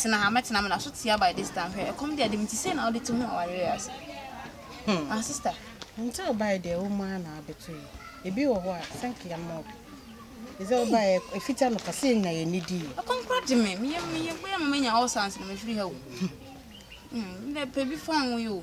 tena ha mɛtena me na so tia by this time hwɛ ɛkɔm deɛ de me ti sei na wode te mu awareɛ ase hmm. ah sister nti wobae deɛ wo mu a na abɛto yi ebi wɔ hɔ a sɛnke yɛ mmɔ bi ɛsɛ wobae ɛfita no kase yɛnya yɛ ne dii ɛkɔm kora de me meyɛ meyɛ bɛyɛ ma manya all sans no mefiri ha o hmm, dɛ pɛ bi fa wo yi o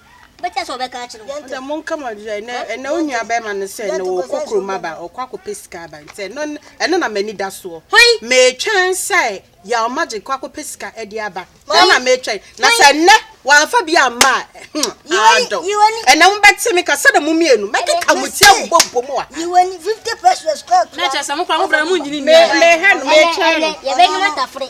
Wobɛtena sɛ wɔbɛka akyerɛ wo. Ɔdɛ monka ma ɔdɛ ɛnɛ ɛnɛ wo nua bɛrima no sɛ ɛnɛ ɔkɔ kurom aba ɔkɔ akɔpɛ sika aba nti ɛno ɛno na m'ani da soɔ metwɛn sɛ Yaw Magic kɔ akɔpɛ sika ɛde aba ɛno na metwɛn na sɛ ɛnɛ wamfa bi amma a hmm adɔ ɛnɛ mo bɛte me ka sɛdeɛ mo mmienu mɛkeka mo ti abobɔ bɔ mu a na kyerɛ sɛ mo kora mo brɛ mo nyini nyɛ mehɛ no metwɛn no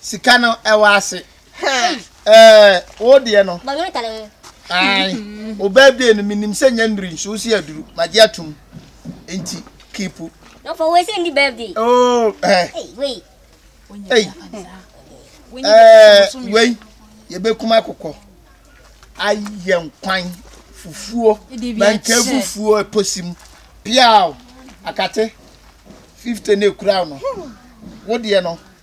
Sika no ɛwɔ ase. Ɛɛ wo deɛ no. Bɔ nwonta no ho. Ae. Obaa bie no menim sɛ nyɛ nnuru nso wosɛ aduru. Magye atom. Enti keep. No for wei sɛ ndi birthday. Oh eh. Ei wei. Ei. Ɛɛ wei yɛbɛkum akokɔ ayɛ nkwan fufuo manka fufuo ɛposim piaw akate 50 na ekura no wo deɛ no.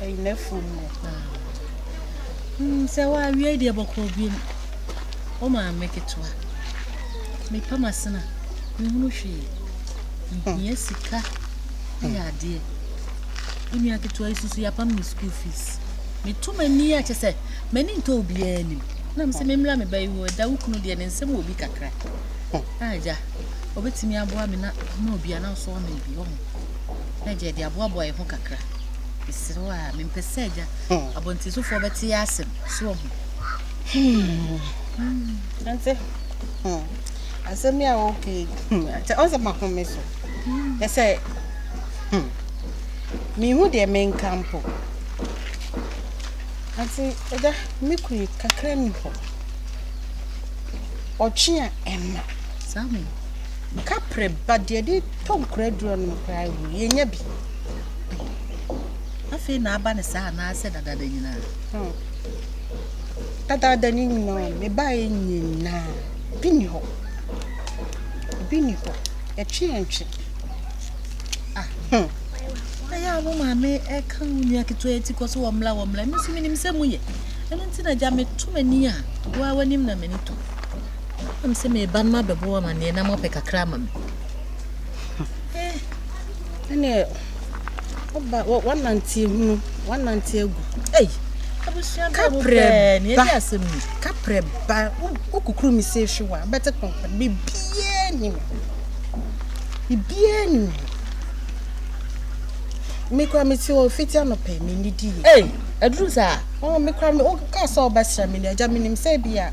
Ɛyi n'afuom no. Mm, sɛ woawie deɛ bɔkɔɔ biem. Wo maame ketewa. Mepa m'asena. Mehunu hwee. Mehia sika. Yɛ adeɛ. Wo nua ketewa yi susu yɛapam ne school fees. Metu m'ani a kyɛ sɛ m'ani ntɔ obiara anim. Na me sɛ memmra me ba yi hɔ. Ɛda wo kunu deɛ ne nsɛm wɔ bi kakra. Agya, ɔbɛtumi aboa me na ma obi anaa ɔsoa me bi wɔ ho. na agya de aboaboa yɛn ho kakra. Mesrɛ wo a, mempɛ sɛ agya abɔntensofoɔ bɛte yɛ asɛm. So wɔ ho? Ante, asɛm yi a wɔka yi, ante ɔsɛ mahome so. Ɛ sɛ, menhu deɛ menka mpo. Ante, agya, me kunu kakra ni hɔ. Ɔtwe a ɛma. Saa mo. Kapre ba deɛ de tɔ nkura aduro nom koraa wɔ yɛ nya bi. Ai afei na aba ne saa anaa sɛ dadaada nyinaa. Hmm. Dadaada ne nyinaa me ba yɛ nyinaa bi ni hɔ bi ni hɔ yɛtwe yɛn twe. Ah hmm. Ɛyɛ a mo maame ɛka wo nua ketewa ti kɔ so wɔ mmla wɔ mmla no so menim sɛ mu yɛ ɛno nti na gya meto m'ani a woa w'anim na m'ani to. Nam sɛ meba no mabɛbɔ amanneɛ na moapɛ kakra ama me. Eh, ɛneɛ woba woanante hunu woanante agu. Ei, abusua bɛɛ mu pɛɛ ne ɛdi asɛm ni. Kaprɛ ba, wokukuru me sɛ ehwe wa, bɛte kɔnkɔn, bibiaa ni me. Bibiaa ni me. Me kura me ti wɔ fiti anɔpɛ, me nidi yɛ. Ei, aduru saa. Oh, me kura me, wokaa sɛ wobɛsra me ni, agya menim sɛ bi a.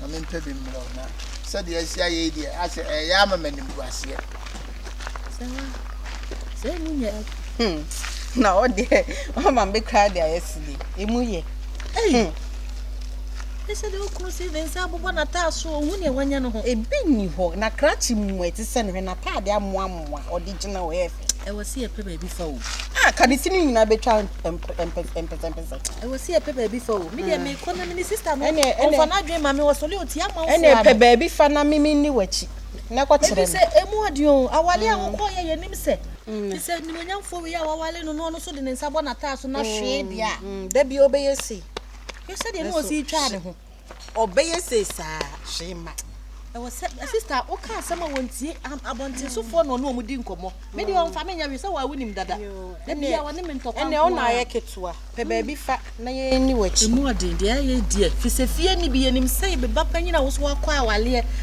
na mempɛ bi mmerɛ wo na sɛdeɛ asi ayɛ yi deɛ asɛ ɛyɛ ama ma nim guaseɛ sɛ mu yɛ hmm. na ɔdeɛ ɔma me kora de ayɛ si deɛ ɛmu yɛ hmm. ɛsɛ deɛ wokunu si ne nsa abobɔ nataa so ɔhu neɛ wanya no ho ebi nni hɔ na krakye mu ɛte sɛ no hwɛ nataadeɛ amoamoa ɔde gyina hɔ Ɛwɔ sɛ yɛpɛ baabi fa o. Ah, kadisi no nyinaa bɛtwa mpɛsɛmpɛsɛ. Ɛwɔ sɛ yɛpɛ baabi fa o. Me deɛ ah. mekɔ na mene sista no. Ɛne ɛne ɔfa n'adwene ma me wɔ sɔle oti ama nfo. Ɛne pɛ baabi fa na mimi ni w'akyi. Na kɔ kyerɛ me. Ebi sɛ emu ɔdi o. Awale a mm. wokɔ yɛ yɛ nim sɛ. Mm. Te sɛ nimonyamfoɔ wei a wawale no na ɔno so de ne nsa bɔ n'ataa so na mm. hwee bia. Da bi ɔbɛyɛ sei. Hwɛ sɛdeɛ ne ɔsi twa ne ho. ɔbɛyɛ sei saa hwee ma ɛwɔ sɛ sista woka asɛm a wɔntie abɔntensofoɔ na ɔne ɔmo di nkɔmmɔ me deɛ ɔmfa me nyɛ hwee sɛ wɔawo nim dada da bia wɔne me ntɔkwa ɛnɛ ɔna ayɛ ketewa pɛ baabi fa na yɛni wakyi ɛmu ɔden deɛ ɛyɛ deɛ fisɛ fie ni bi yɛnim sɛ bɛba panyin a wo so wakɔ awaleɛ